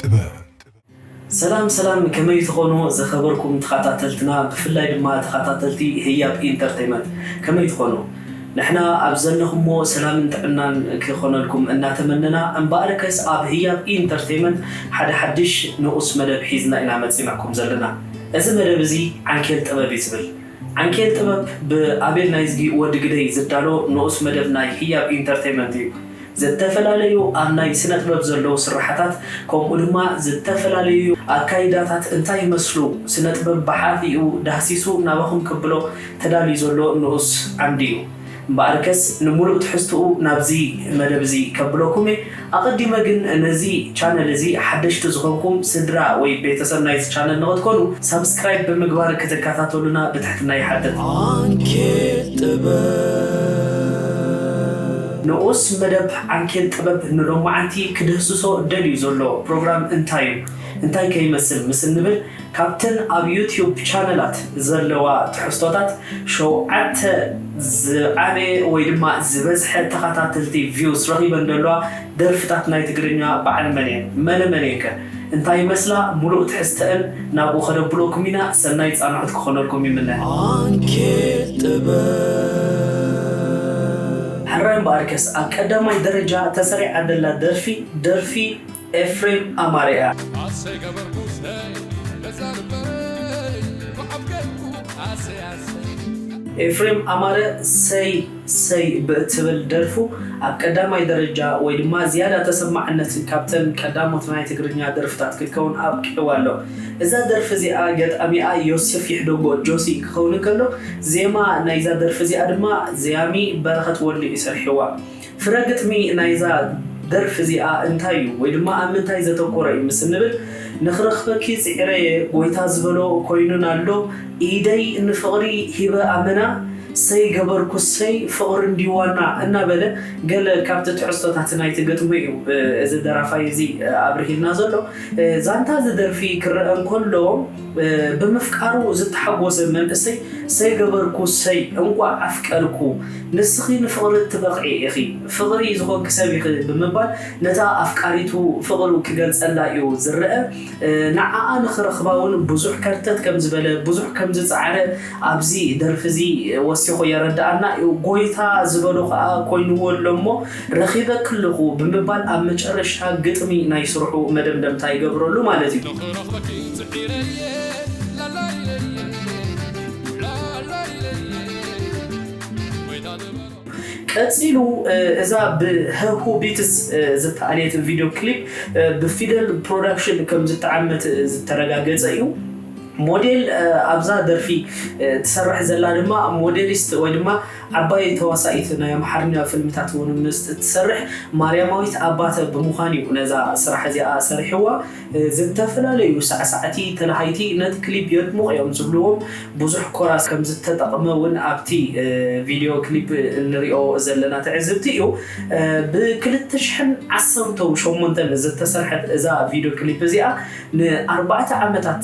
ጥበብ። ሰላም ሰላም ከመይ ትኾኑ ዝኸበርኩም ተኻታተልትና ብፍላይ ድማ ተኻታተልቲ ህያብ ኢንተርተይመንት ከመይ ትኾኑ ንሕና ኣብ ዘለኹሞ ሰላምን ጥዕናን ክኾነልኩም እናተመነና እምበኣርከስ ኣብ ህያብ ኢንተርተይመንት ሓደ ሓድሽ ንኡስ መደብ ሒዝና ኢና መጺናኩም ዘለና እዚ መደብ እዚ ዓንኬል ጥበብ እዩ ዝብል ዓንኬል ጥበብ ብኣቤል ናይዝጊ ወዲ ግደይ ዝዳሎ ንኡስ መደብ ናይ ህያብ ኢንተርተይመንት እዩ። ዘተፈላለዩ ኣብ ናይ ስነጥበብ ዘለዉ ስርሓታት ከምኡ ድማ ዝተፈላልዩ ኣካይዳታት እንታይ ይመስሉ ስነጥበብ ብሓፊኡ ዳህሲሱ ናባኹም ከብሎ ተዳልዩ ዘሎ ንኡስ ዓምዲ እዩ። እምበኣርከስ ንምሉእ ትሕዝትኡ ናብዚ መደብ እዚ ከብለኩም እየ። ኣቐዲመ ግን ነዚ ቻነል እዚ ሓደሽቲ ዝኾንኩም ስድራ ወይ ቤተሰብ ናይዚ ቻነል ንኽትኮኑ ሳብስክራይብ ብምግባር ክትከታተሉና ብትሕትና ይሓትት። ዓንኬል ጥበብ። ንኡስ መደብ ዓንኬል ጥበብ ንሎማዓንቲ ክድህስሶ ደልዩ ዘሎ ፕሮግራም እንታይ እዩ? እንታይ ከ ይመስል ምስ እንብል፣ ካብተን ኣብ ዩትዩብ ቻነላት ዘለዋ ትሕዝቶታት ሸውዓተ ዝዓበየ ወይ ድማ ዝበዝሐ ተኸታተልቲ፣ ቪውስ፣ ረኺበን ዘለዋ ደርፍታት ናይ ትግርኛ በዓል መን እየን? መነ መን እየን ከ? እንታይ ይመስላ? ሙሉእ ትሕዝተእን ናብኡ ከነብሎኩም ኢና። ሰናይ ፃንሖት ክኾነልኩም ይምነ። ዓንኬል ጥበብ። ሕራይ እምበኣርከስ ኣብ ቀዳማይ ደረጃ ተሰሪዓ ዘላ ደርፊ ደርፊ። ኤፍሬም ኣማረ እያ። ኣሰይ ገበርኩስ ነይ ነፃ ልበይ ብዓል ገይርኩ ኣሰይ ኣሰይ። ኤፍሬም ኣማረ ሰይ ሰይ ብእትብል ደርፉ ኣብ ቀዳማይ ደረጃ ወይ ድማ ዝያዳ ተሰማዕነት ካብተን ቀዳሞት ናይ ትግርኛ ደርፍታት ክትከውን ኣብቂዕዋ ኣሎ። እዛ ደርፊ እዚኣ ገጣሚኣ ዮስፍ ይሕደጎ፣ ጆሲ፣ ክኸውን እንከሎ ዜማ ናይዛ ደርፊ እዚኣ ድማ ዘያሚ በረኸት ወልዱ እዩ ሰሪሕዋ። ፍረ ግጥሚ ናይዛ ደርፊ እዚኣ እንታይ እዩ ወይ ድማ ኣብ ምንታይ ዘተኮረ እዩ ምስ እንብል ንክረክበኪ ጺዒረየ ጎይታ ዝበሎ ኮይኑና ኣሎ ኢደይ ንፍቅሪ ሂበ ኣመና ሰይ ገበርኩ ሰይ ፍቅሪ እንድዩ ዋና እናበለ ገለ ካብቲ ትሕዝቶታት ናይቲ ግጥሚ እዩ እዚ ደራፋይ እዚ ኣብርሂልና ዘሎ ዛንታ እዚ ደርፊ ክረኣ እንከሎ ብምፍቃሩ ዝተሓጎሰ መንእሰይ ሰይገበርኩ ሰይ እንቋዕ ኣፍቀርኩ ንስኺ ንፍቕሪ እትበቕዒ ኢኺ ፍቕሪ ዝኾንኪ ሰብ ኢኺ ብምባል ነታ ኣፍቃሪቱ ፍቕሩ ክገልጸላ'ዩ ዝረኣ። ንዓኣ ንኽረኽባ'ውን ብዙሕ ከርተት ከም ዝበለ ብዙሕ ከም ዝጸዓረ ኣብዚ ደርፊ'ዚ ወሲኹ የረድኣና። ጎይታ ዝበሎ ከኣ ኮይንዎ ኣሎ'ሞ፣ ረኺበኪ ኣለኹ ብምባል ኣብ መጨረሽታ ግጥሚ ናይ ስርሑ መደምደምታ ይገብረሉ ማለት እዩ። ንኽረኽበኪ ጽዒረ እየ ላላይለይለይለይ ላላይለይለይለይ ጎይታ ግበሮ። ቀጺሉ እዛ ብሀሁ ቢትስ ዝተኣልየት ቪድዮ ክሊፕ ብፊደል ፕሮዳክሽን ከም ዝተዓመት ዝተረጋገጸ እዩ። ሞዴል ኣብዛ ደርፊ ትሰርሕ ዘላ ድማ ሞዴሊስት ወይ ድማ ዓባይ ተዋሳኢት ናይ ኣምሓርኛ ፍልምታት እውን ምስ እትሰርሕ ማርያማዊት ኣባተ ብምዃን እዩ ነዛ ስራሕ እዚኣ ሰሪሕዋ። ዝተፈላለዩ ሳዕሳዕቲ ተላሃይቲ ነቲ ክሊፕ የድምቑ እዮም ዝብልዎም ብዙሕ ኮራስ ከም ዝተጠቕመ እውን ኣብቲ ቪድዮ ክሊፕ እንሪኦ ዘለና ትዕዝብቲ እዩ። ብ ክልተ ሽሕን ዓሰርተው ሸሞንተን ዝተሰርሐት እዛ ቪድዮ ክሊፕ እዚኣ ንኣርባዕተ ዓመታት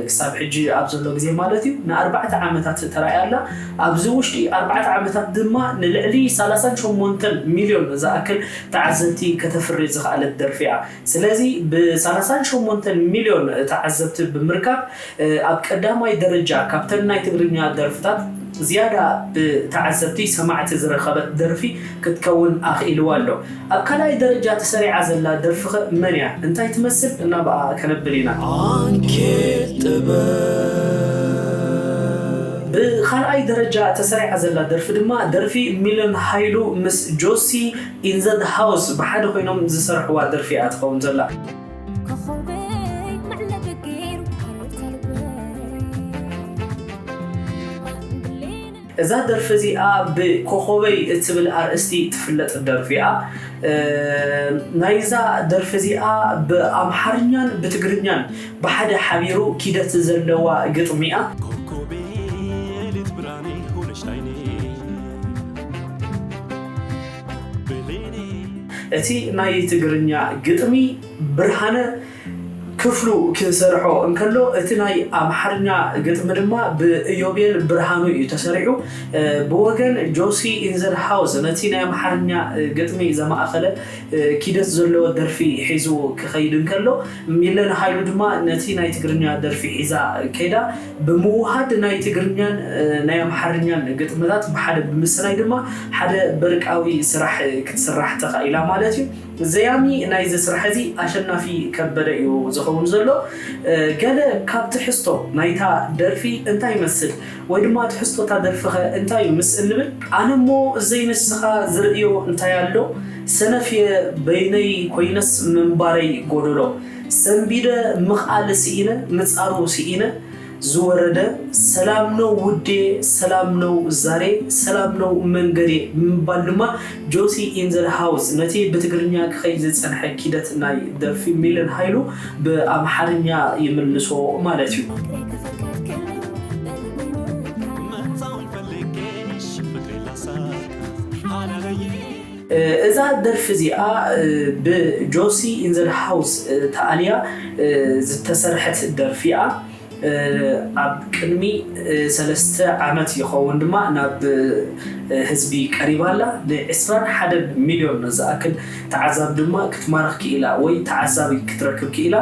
ክሳብ ሕጂ ኣብ ዘሎ ግዜ ማለት እዩ ንኣርባዕተ ዓመታት ተራእያ ኣላ። ኣብዚ ውሽጢ ኣርባዕተ ዓመታት ድማ ንልዕሊ ሰላሳን ሸሞንተን ሚልዮን ዝኣክል ተዓዘብቲ ከተፍሪ ዝኸኣለት ደርፊ እያ። ስለዚ ብ ሰላሳን ሸሞንተን ሚልዮን ተዓዘብቲ ብምርካብ ኣብ ቀዳማይ ደረጃ ካብተን ናይ ትግርኛ ደርፍታት ዝያዳ ብ ተዓዘብቲ ሰማዕቲ ዝረኸበት ደርፊ ክትከውን ኣኽኢልዋ ኣሎ። ኣብ ካልኣይ ደረጃ ተሰሪዓ ዘላ ደርፊ'ኸ መን እያ? እንታይ ትመስል? እና ብኣኣ ከነብል ኢና። ኣንኬት ጥበብ። ብኻልኣይ ደረጃ ተሰሪዓ ዘላ ደርፊ ድማ ደርፊ ሚለን ሃይሉ ምስ ጆሲ ኢን ዘ ሃውስ ብሓደ ኮይኖም ዝሰርሕዋ ደርፊ እያ ትኸውን ዘላ። እዛ ደርፊ እዚኣ ብ ኮኾበይ እትብል ኣርእስቲ እትፍለጥ ደርፊ እያ። ናይዛ ደርፊ እዚኣ ብ ኣምሓርኛን ብ ትግርኛን ብሓደ ሓቢሩ ኪደት ዘለዋ ግጥሚ እያ። ኮኮቤ የሌት ብርሃኔ ሆነሽ ላይኔ ብሌኔ። እቲ ናይ ትግርኛ ግጥሚ ብርሃነ ክፍሉ ክሰርሖ እንከሎ፣ እቲ ናይ ኣምሓርኛ ግጥሚ ድማ ብእዮቤል ብርሃኑ እዩ ተሰሪሑ። ብወገን ጆሲ ኢን ዘ ሃውስ ነቲ ናይ ኣምሓርኛ ግጥሚ ዘማእከለ ኪደት ዘለዎ ደርፊ ሒዙ ክኸይድ እንከሎ፣ ሚለን ሃይሉ ድማ ነቲ ናይ ትግርኛ ደርፊ ሒዛ ከይዳ። ብምውሃድ ናይ ትግርኛን ናይ ኣምሓርኛን ግጥምታት ብሓደ ብምስናይ ድማ ሓደ በርቃዊ ስራሕ ክትስራሕ ተኻኢላ ማለት እዩ። ዘያሚ ናይዚ ስራሕ እዚ ኣሸናፊ ከበደ እዩ ዝኸውን ዘሎ። ገለ ካብ ትሕዝቶ ናይታ ደርፊ እንታይ ይመስል ወይ ድማ ትሕዝቶ እታ ደርፊኸ እንታይ እዩ ምስ እንብል። ኣነ እሞ ዘይንስኻ ዝርእዮ እንታይ ኣሎ ሰነፍ እየ በይነይ ኮይነስ ምንባረይ ጎደሎ ሰንቢደ ምኽኣል ስኢነ ምጻሩ ስኢነ ዝወረደ ሰላም ነው ውዴ ሰላም ነው ዛሬ ሰላም ነው መንገዴ ብምባል ድማ ጆሲ ኢን ዘ ሃውስ ነቲ ብትግርኛ ክኸይድ ዝጸንሐ ኪደት ናይ ደርፊ ሚለን ሃይሉ ብኣምሓርኛ ይምልሶ ማለት እዩ። እዛ ደርፊ እዚኣ ብ ጆሲ ኢን ዘ ሃውስ ተኣልያ ዝተሰርሐት ደርፊ እያ። ኣብ ቅድሚ ሰለስተ ዓመት ይኸውን ድማ ናብ ህዝቢ ቀሪባ ኣላ። ን ዕስራን ሓደን ሚልዮን ዝኣክል ተዓዛቢ ድማ ክትማርኽ ክኢላ ወይ ተዓዛቢ ክትረክብ ክኢላ።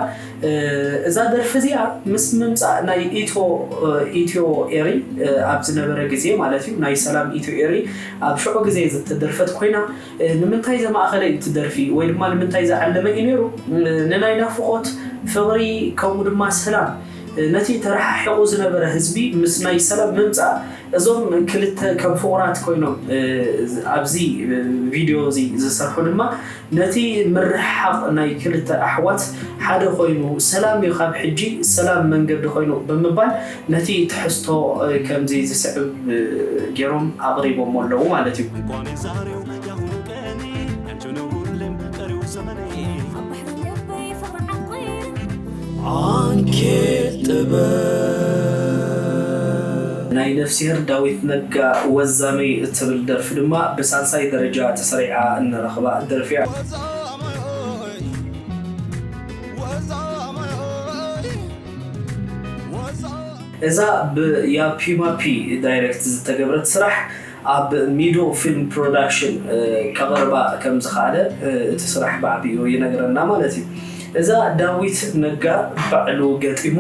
እዛ ደርፊ እዚኣ ምስ ምምጻእ ናይ ኢትዮ ኢትዮ ኤሪ ኣብ ዝነበረ ግዜ ማለት እዩ ናይ ሰላም ኢትዮ ኤሪ ኣብ ሽዑ ግዜ ዝተደርፈት ኮይና ንምንታይ ዘማእከለ እዩ እቲ ደርፊ ወይ ድማ ንምንታይ ዝዓለመ እዩ ነይሩ? ንናይ ናፍቖት፣ ፍቕሪ ከምኡ ድማ ሰላም ነቲ ተረሓሒቑ ዝነበረ ህዝቢ ምስ ናይ ሰላም ምምጻእ እዞም ክልተ ከም ፍቑራት ኮይኖም ኣብዚ ቪድዮ እዚ ዝሰርሑ ድማ ነቲ ምርሕሓቕ ናይ ክልተ ኣሕዋት ሓደ ኮይኑ ሰላም ዩ ካብ ሕጂ ሰላም መንገዲ ኮይኑ ብምባል ነቲ ትሕዝቶ ከምዚ ዝስዕብ ጌሮም ኣቕሪቦሞ ኣለዉ ማለት ዩ። እንኳን የዛሬው ያሁኑ ቀኔ ያንቺ ነው ሁሌም ቀሪው ዘመኔ። ኣብ ባሕሪ ልበይ ፍቕሪ ዓቊሩ። ዓንኬል ጥበብ። ናይ ነፍስሄር ዳዊት ነጋ ወዛመይ እትብል ደርፊ ድማ ብሳልሳይ ደረጃ ተሰሪዓ እንረኽባ ደርፊ እያ። ወዛመይ ወዛመይ ወዛመይ። እዛ ብ ያፒማፒ ዳይረክት ዝተገብረት ስራሕ ኣብ ሚዶ ፊልም ፕሮዳክሽን ከቕርባ ከም ዝኸኣለ እቲ ስራሕ ብዓቢኡ ይነግረና ማለት እዩ። እዛ ዳዊት ነጋ ባዕሉ ገጢሙ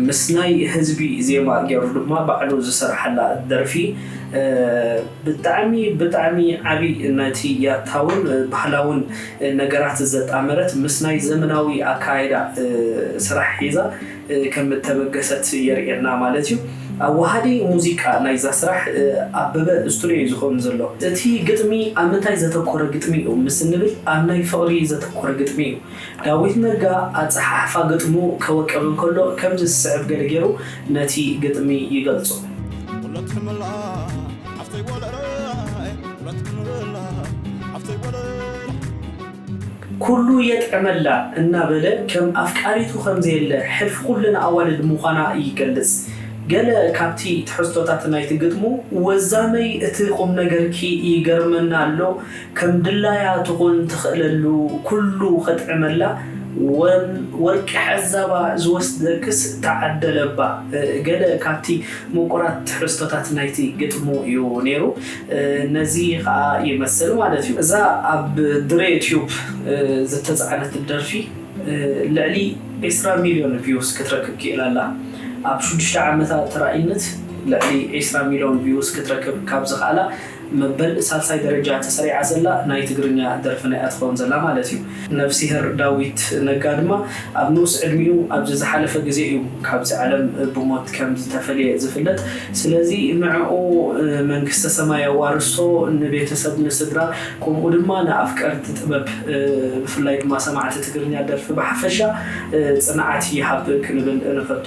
ምስ ናይ ህዝቢ ዜማ ጌሩ ድማ ባዕሉ ዝሰርሓላ ደርፊ ብጣዕሚ ብጣዕሚ ዓቢ ነቲ ያታውን ባህላውን ነገራት ዘጣመረት ምስ ናይ ዘመናዊ ኣከያይዳ ስራሕ ሒዛ ከም እተበገሰት የርእየና ማለት እዩ። ኣዋሃዲ ሙዚቃ ናይዛ ስራሕ ኣበበ ስቱድዮ እዩ ዝኸውን ዘሎ። እቲ ግጥሚ ኣብ ምንታይ ዘተኮረ ግጥሚ እዩ ምስ እንብል ኣብ ናይ ፍቕሪ ዘተኮረ ግጥሚ እዩ። ዳዊት ነጋ ኣጸሓሕፋ ግጥሙ ከወቅብ እንከሎ ከምዚ ዝስዕብ ገለ ገይሩ ነቲ ግጥሚ ይገልጾ። ኩሉ የጥዕመላ እናበለ ከም ኣፍቃሪቱ ከም ዘየለ ሕልፊ ኩለን ኣዋልድ ምዃና ይገልጽ። ገለ ካብቲ ትሕዝቶታት ናይቲ ግጥሙ። ወዛመይ እቲ ቁምነገርኪ ይገርመና ኣሎ ከም ድላያ ትኹን ትኽእለሉ ኩሉ ከጥዕመላ ወን ወርቂ ሐዛባ ዝወስደክስ ተዓደለባ ገለ ካብቲ ሙቁራት ትሕዝቶታት ናይቲ ግጥሙ እዩ ነይሩ ነዚ ከኣ ይመስል ማለት እዩ። እዛ ኣብ ድሬ ቲዩብ ዝተጻዕነት ደርፊ ልዕሊ ዕስራ ሚልዮን ቪውስ ክትረክብ ክኢላ ኣላ። ኣብ ሽዱሽተ ዓመታ ተራኢነት ልዕሊ ዕስራ ሚልዮን ቪውስ ክትረክብ ካብ ዝኸኣላ መበል ሳልሳይ ደረጃ ተሰሪዓ ዘላ ናይ ትግርኛ ደርፍና እያ ትኸውን ዘላ ማለት እዩ። ነፍሲሄር ዳዊት ነጋ ድማ ኣብ ንኡስ ዕድሚኡ ኣብዚ ዝሓለፈ ግዜ እዩ ካብዚ ዓለም ብሞት ከም ዝተፈልየ ዝፍለጥ። ስለዚ ንዕኡ መንግስተ ሰማይ የዋርሶ፣ ንቤተሰብ ንስድራ ከምኡ ድማ ንኣፍቀርቲ ጥበብ ብፍላይ ድማ ሰማዕቲ ትግርኛ ደርፊ ብሓፈሻ ጽንዓት ይሃብ ክንብል ንፈቱ።